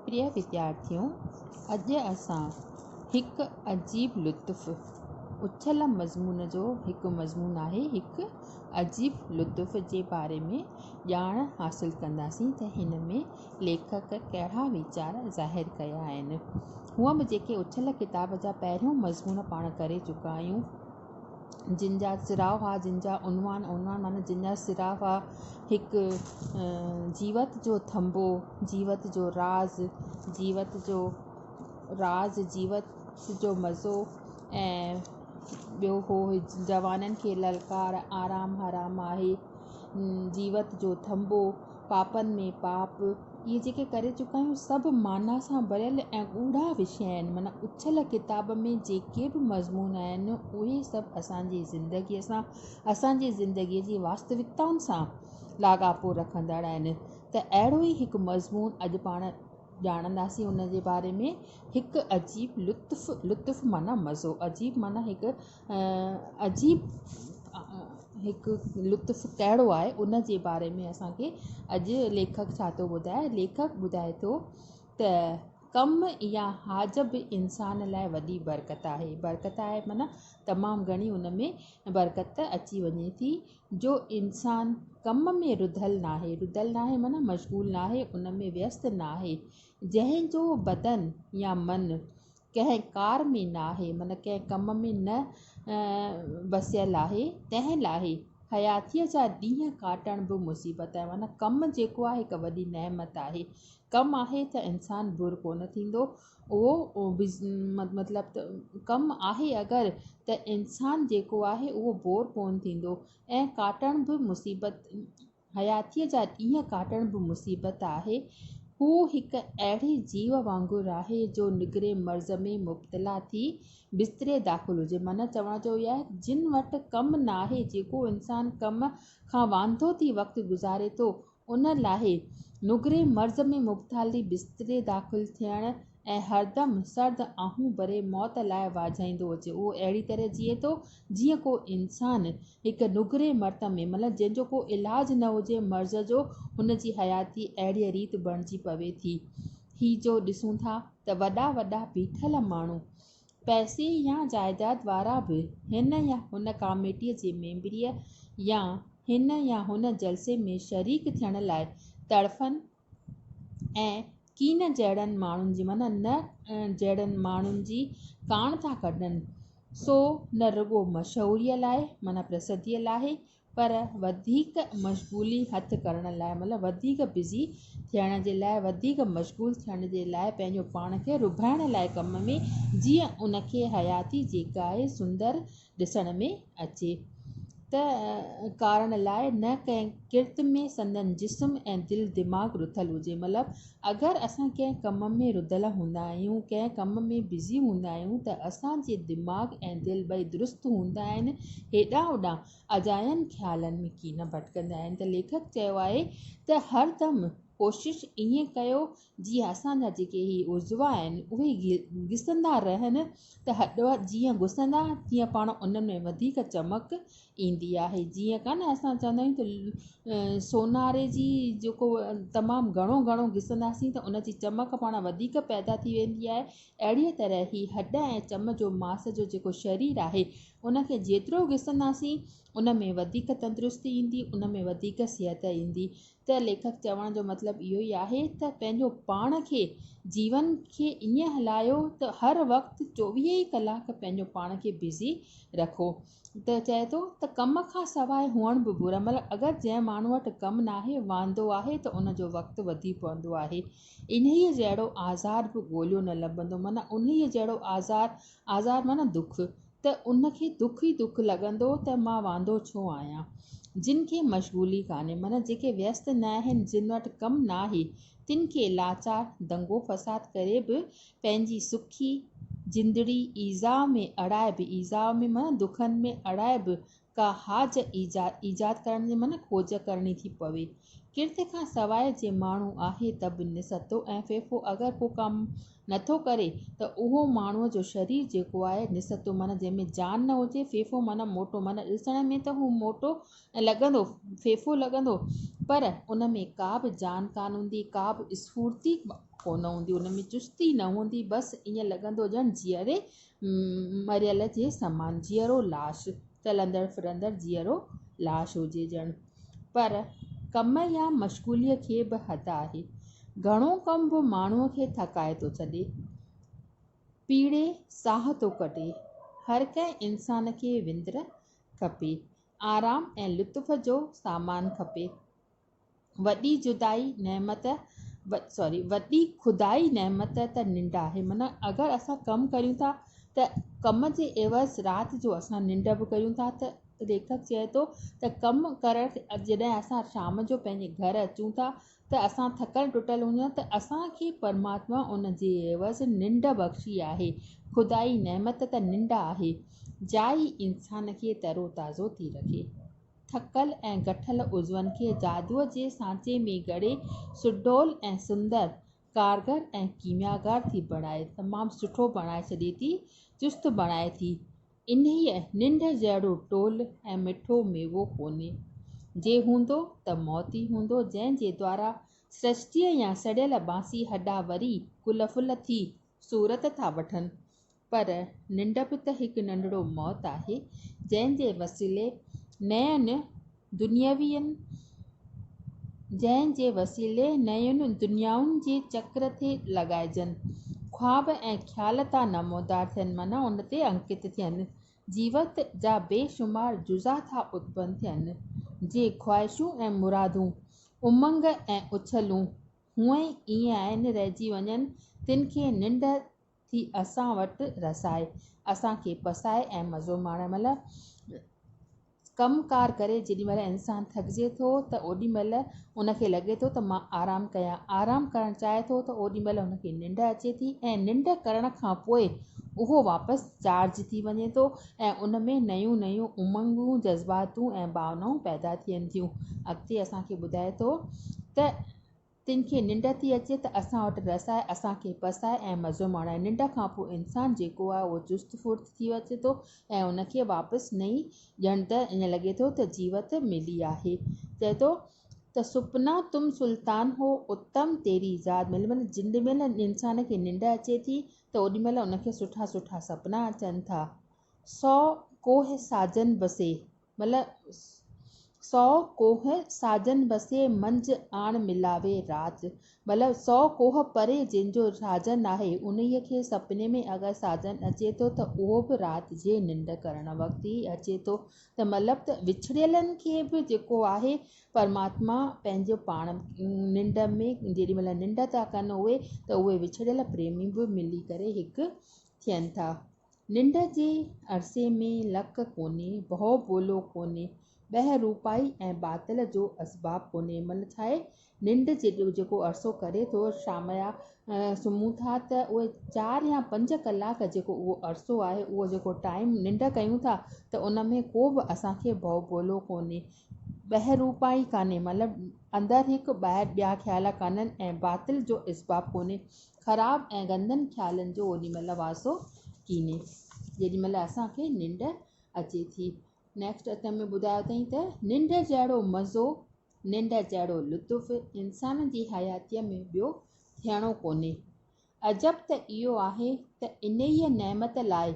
پريا وديارٿيو، اڄ اسان هڪ عجيب لطف اڇل مضمون جو هڪ مضمون آهي هڪ عجيب لطف جي باري ۾ ڄاڻ حاصل ڪنداسين ته هن ۾ ليکڪ ڪهڙا ويچار ظاهر ڪيا آهن هونئن به جيڪي اڇل ڪتاب جا پهريون مضمون پاڻ ڪري چڪا آهيون جن جا سراء هئا، جن جا عنوان، عنوان معنيٰ جن جا سراء هئا، هڪ جيوت جو ٿنڀو، جيوت جو راز، جيوت جو راز، جيوت جو مزو ۽ ٻيو هو جوانن کي للڪار، آرام حرام آهي، جيوت جو ٿنڀو. پاپن ۾ پاپ، اهي جيڪي ڪري چڪا آهيون، سڀ معنيٰ سان ڀريل ۽ ڳوڙها وشي آهن، معنيٰ اڇل ڪتاب ۾ جيڪي به مضمون آهن، اهي سڀ اسان جي زندگيء سان، اسان جي زندگيء جي واستوڪتائن سان لاڳاپو رکندڙ آهن، ته اهڙو ئي هڪ مضمون اڄ پاڻ ڄاڻنداسين، ان جي باري ۾ هڪ عجيب لطف، لطف معنيٰ مزو، عجيب معنيٰ هڪ عجيب هڪ لطف ڪهڙو آهي ان جي باري ۾ اسانکي اڄ ليکڪ ڇا ٿو ٻڌائي ليکڪ ٻڌائي ٿو ته ڪم يا حاج به انسان لاء وڏي برڪت آهي برڪت آهي معنيٰ تمام گهڻي ان ۾ برڪت اچي وڃي ٿي جو انسان ڪم ۾ رڌل نه آهي رڌل نه آهي معنيٰ مشغول نه آهي ان ۾ ويست نه آهي جنهن جو بدن يا من ڪنهن ڪار ۾ نه آهي من ڪنهن ڪم ۾ نه وسيل آهي تنهن لاء حياتيء جا ڏينهن ڪاٽڻ به مصيبت آهي من ڪم جيڪو آهي هڪ وڏي نعمت آهي ڪم آهي ته انسان بور ڪونه ٿيندو اهو مطلب ته ڪم آهي اگر ته انسان جيڪو آهي اهو بور ڪونه ٿيندو ۽ ڪاٽڻ به مصيبت حياتيء جا ڏينهن ڪاٽڻ به مصيبت آهي. هو هڪ اهڙي جيو وانگر آهي جو نگري مرض ۾ مبتلا ٿي بستري داخل هجي. معنيٰ چوڻ جو اهو آهي ته جن وٽ ڪم ناهي، جيڪو انسان ڪم کان وانڌو ٿي وقت گذاري ٿو، ان لاء نگري مرض ۾ مبتالي بستري داخل ٿيڻ ۽ هردم سرد آهون ڀري موت لاء واجهائيندو اچي. اهو اهڙي طرح جيئي ٿو، جيئن ڪو انسان هڪ نگري مرت ۾ مطلب جنهن جو ڪو علاج نه هجي مرض جو هن جي حياتي اهڙيء ريت بڻجي پوي ٿي. هي جو ڏسون ٿا ته وڏا وڏا بيٺل ماڻهو، پئسي يا جائداد وارا به هن يا هن ڪاميٽيء جي ميمبريء يا هن يا هن جلسي ۾ شريڪ ٿيڻ لاء تڙڦن، ۽ ڪين جهڙن ماڻهن جي معنيٰ نه جهڙن ماڻهن جي ڪاڻ ٿا ڪڍن سو نه رڳو مشهوريء لاء معنيٰ پرسڌيء لاء پر وڌيڪ مشغولي هٿ ڪرڻ لاء معنيٰ وڌيڪ بزي ٿيڻ جي لاء وڌيڪ مشغول ٿيڻ جي لاء پنهنجو پاڻ کي رڀائڻ لاء ڪم ۾ جيئن ان کي حياتي جيڪا آهي سندر ڏسڻ ۾ اچي ته ڪارڻ لاء نه ڪنهن ڪرت ۾ سندن جسم ۽ دل دماغ رڌل هجي مطلب اگر اسان ڪنهن ڪم ۾ رڌل هوندا آهيون ڪنهن ڪم ۾ بزي هوندا آهيون ته اسان جي دماغ ۽ دل ٻئي درست هوندا آهن هيڏانهن هوڏانهن اجاين خيالن ۾ ڪين ڀٽڪندا آهن ته ليکڪ چيو آهي ته هر دم ڪوشش ائين ڪيو جي اسان جا جيڪي هي عضوا آهن اهي گسندا رهن ته هڏ جيئن گسندا تيئن پاڻ انهن ۾ وڌيڪ چمڪ ايندي آهي جيئن ڪا نه اسان چوندا آهيون ته سوناري جي جيڪو تمام گهڻو گهڻو گسنداسين ته ان جي چمڪ پاڻ وڌيڪ پيدا ٿي ويندي آهي اهڙيء طرح هي هڏ ۽ چم جو ماس جو جيڪو شرير آهي ان کي جيترو گسنداسين ان ۾ وڌيڪ تندرستي ايندي ان ۾ وڌيڪ صحت ايندي ته ليکڪ چوڻ جو مطلب اهو ئي آهي ته پنهنجو پاڻ کي، جيون کي ائين هلايو ته هر وقت چوويهه ئي ڪلاڪ پنهنجو پاڻ کي بزي رکو. ته چئي ٿو ته ڪم کان سواء هئڻ به برو عمل اگر جنهن ماڻهو وٽ ڪم ناهي، واندو آهي ته ان جو وقت وڌي پوندو آهي. انهيء جهڙو آزار به ڳوليو نه لڀندو معنيٰ انهيء جهڙو آزار، آزار معنيٰ دک، ته ان کي دک ئي دک لڳندو ته مان واندو ڇو آهيان. جن کي مشغولي ڪانهي معنيٰ جيڪي ويست نه آهن، جن وٽ ڪم ناهي، تن کي لاچار دنگو فساد ڪري به پنهنجي سکي زندڙي ايذاء ۾ اڙائي به ايذاء ۾ معنيٰ دکن ۾ اڙائي به ڪا حاج ايجاد ڪرڻ جي من کوج ڪرڻي ٿي پوي. ڪرت کان سواء جي ماڻهو آهي ته به نسهتو ۽ ڦيڦو اگر ڪو ڪم نه ٿو ڪري ته اهو ماڻهوء جو شرير جيڪو آهي نسهتو معنيٰ جنهن ۾ جان نه هجي ڦيڦو معنيٰ موٽو معنيٰ ڏسڻ ۾ ته هو موٽو ۽ لڳندو ڦيڦو لڳندو پر ان ۾ ڪا به جان ڪانه هوندي ڪا به اسڦورتي ڪونه هوندي ان ۾ چستي نه هوندي بس ائين لڳندو ڄڻ جيئري مريل جي سمان جيئرو لاش، چلندڙ ڦرندڙ جيئرو لاش هجي ڄڻ. پر ڪم يا مشغوليء کي به حد آهي. گهڻو ڪم به ماڻهوء کي ٿڪائي ٿو ڇڏي. پيڙهي ساهه ٿو ڪڍي. هر ڪنهن انسان کي وندر کپي. آرام ۽ لطف جو سامان کپي. وڏي جدائي نعمت سوري وڏي خدائي نعمت ته ننڊ آهي معنيٰ اگر اسان ڪم ڪريون ٿا ته ڪم جي عيوض رات جو اسان ننڊ به ڪريون ٿا ته ليکڪ چئي ٿو ته ڪم ڪرڻ جڏهن اسان شام جو پنهنجي گهر اچون ٿا ته اسان ٿڪل ٽٽل هجون ته اسان کي پرماتما ان جي عيوض ننڊ بخشي آهي خدائي نعمت ته ننڊ آهي جا ئي انسان کي ترو تازو ٿي رکي ٿڪل ۽ گٺل عضون کي جادوء جي سانچي ۾ گهڙي سڊول ۽ سندر، ڪارگر ۽ ڪيمياگر ٿي بڻائي، تمام سٺو بڻائي ڇڏي ٿي، چست بڻائي ٿي. انهيء ننڊ جهڙو ٽول ۽ مٺو ميوو ڪونهي. جي هوندو ته موت ئي هوندو، جنهن جي دوارا سرشٽيء جا سڙيل بانسي هڏا وري گل ڦل ٿي صورت ٿا وٺن. پر ننڊ به ته هڪ ننڍڙو موت آهي، جنهن جي وسيلي نين دنياوين جنهن جي وسيلي نين دنيائن جي چڪر تي لڳائجن، خواب ۽ خيال ٿا نمودار ٿين معنيٰ ان تي انڪت ٿين، جيوت جا بي شمار جزا ٿا اتپن ٿين، جي خواهشون ۽ مرادون، امنگ ۽ اڇلون هونئن ئي ائين رهجي وڃن، تن کي ننڊ ٿي اسان وٽ رسائي، اسان کي پسائي ۽ مزو ماڻڻ مھل ڪم ڪار ڪري جيڏي مھل انسان ٿڪجي ٿو ته اوڏي مھل ان کي لڳي ٿو ته مان آرام ڪيان، آرام ڪرڻ چاھي ٿو ته اوڏي مھل ان کي ننڊ اچي ٿي ۽ ننڊ ڪرڻ کان پوء اھو واپس چارج ٿي وڃي ٿو ۽ ان ۾ نيون نيون امنگون، جذباتون ۽ ڀاونائون پيدا ٿين ٿيون. اڳتي اسان کي ٻڌائي ٿو ته. تن کي ننڊ ٿي اچي ته اسان وٽ رس آهي، اسان کي پس آهي ۽ مزو ماڻايو. ننڊ کان پوء انسان جيڪو آهي اهو چست ڦڙت ٿي اچي ٿو ۽ ان کي واپس نئين ڄڻ ته ائين لڳي ٿو ته جيوت ملي آهي. چئي ٿو ته سپنا تم سلطان هو اتم تيري ذات ملي معنيٰ جنڊ مهل انسان کي ننڊ اچي ٿي ته اوڏي مهل ان کي سٺا سٺا سپنا اچن ٿا. سو ڪوهه ساجن بسي. ملهه سؤ ڪوهه ساجن وسي، منجهه آڻ ملاوي راج. ملهه سؤ ڪوهه پري جنهن جو ساجن ناهي، انهيء کي سپني ۾ اگر ساجن اچي ٿو ته اهو به رات جي ننڊ ڪرڻ وقت ئي اچي ٿو ته مطلب ته وڇڙيلن کي به جيڪو آهي پرماتما پنهنجو پاڻ ننڊ ۾ جيڏي مهل ننڊ ٿا ڪن اهي ته اهي وڇڙيل پريمي به ملي ڪري هڪ ٿين ٿا. ننڊ جي عرصي ۾ لڪ ڪونهي، ڀؤ ڀولو ڪونهي، ٻه روپائي ۽ باطل جو اسباب ڪونهي. من ڇاهي ننڊ جيڪو عرصو ڪري ٿو، شاميا سمهون ٿا ته اهي چار يا پنج ڪلاڪ جيڪو اهو عرصو آهي، اهو جيڪو ٽائيم ننڊ ڪيون ٿا ته ان ۾ ڪو به اسان کي ڀؤ ڀولو ڪونهي، ٻه روپائي ڪانهي مطلب اندر هڪ ٻاهر ٻيا خيال ڪانهن ۽ باطل جو اسباب ڪونهي. خراب ۽ گندن خيالن جو اوڏي مھل واسو ڪيني جيڏي مھل اسان کي ننڊ اچي ٿي. نيڪسٽ اتم ۾ ٻڌايو اٿئين ته ننڊ جهڙو مزو، ننڊ جهڙو لطف انسان جي حياتيء ۾ ٻيو ٿيڻو ڪونهي. عجب ته اهو آهي ته انهيء نعمت لاء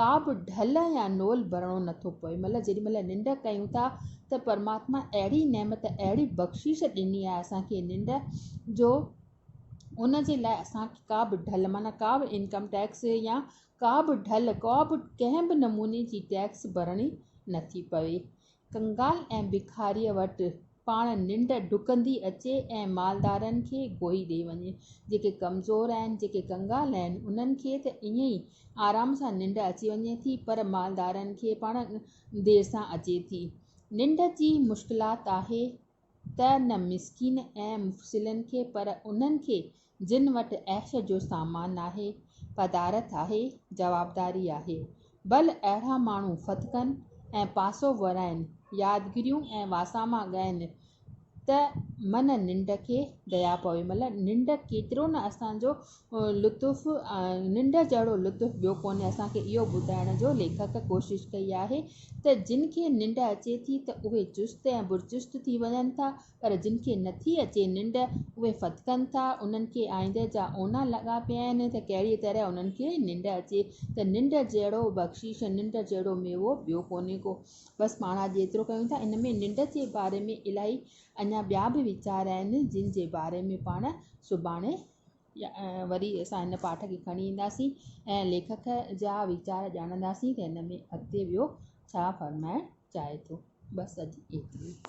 ڪا به ڍل يا نول ڀرڻو نٿو پوي مطلب جيڏي مھل ننڊ ڪيون ٿا ته پرماتما اهڙي نعمت اهڙي بخشش ڏني آهي اسان کي ننڊ جو ان جي لاء اسان کي ڪا به ڍل معنيٰ ڪا به انڪم ٽيڪس يا ڪا به ڍل ڪا به ڪنهن به نموني جي ٽيڪس ڀرڻي نٿي پوي. ڪنگال ۽ بکاريء وٽ پاڻ ننڊ ڊڪندي اچي ۽ مالدارن کي گوئي ڏئي وڃي. جيڪي ڪمزور آهن، جيڪي ڪنگال آهن، انهن کي ته ائين ئي آرام سان ننڊ اچي وڃي ٿي، پر مالدارن کي پاڻ دير سان اچي ٿي. ننڊ جي مشڪلات آهي. ته نه مسڪين ۽ مفسلن کي پر انهن کي جن وٽ عيش جو سامان آهي، پدارت آهي، جوابداري آهي. بل اهڙا ماڻهو ڦٿڪن ۽ پاسو ورائين، يادگريون ۽ واساما ڳائين ته من ننڊ کي ديا پوي مطلب ننڊ ڪيترو نه اسان جو لطف ۽ ننڊ جهڙو لطف ٻيو ڪونهي اسان کي اهو ٻڌائڻ جو ليکڪ ڪوشش ڪئي آهي ته جن کي ننڊ اچي ٿي ته اهي چست ۽ برچست ٿي وڃن ٿا پر جن کي نٿي اچي ننڊ اهي ڦٿڪن ٿا انهن کي آئيندي جا اونا لڳا پيا آهن ته ڪهڙي طرح انهن کي ننڊ اچي ته ننڊ جهڙو بخشيش ننڊ جهڙو ميوو ٻيو ڪونهي ڪو بس پاڻ اڄ ايترو ڪيون ٿا ان ۾ ننڊ جي باري ۾ الائي اڃا ٻيا به ويچار آهن جن جي باري ۾ پاڻ سڀاڻي وري اسان هن پاٺ کي کڻي اينداسين ۽ ليکڪ جا ويچار ڄاڻنداسين ته هن ۾ اڳتي ٻيو ڇا فرمائڻ چاهي ٿو بس اڄ ايترو ئي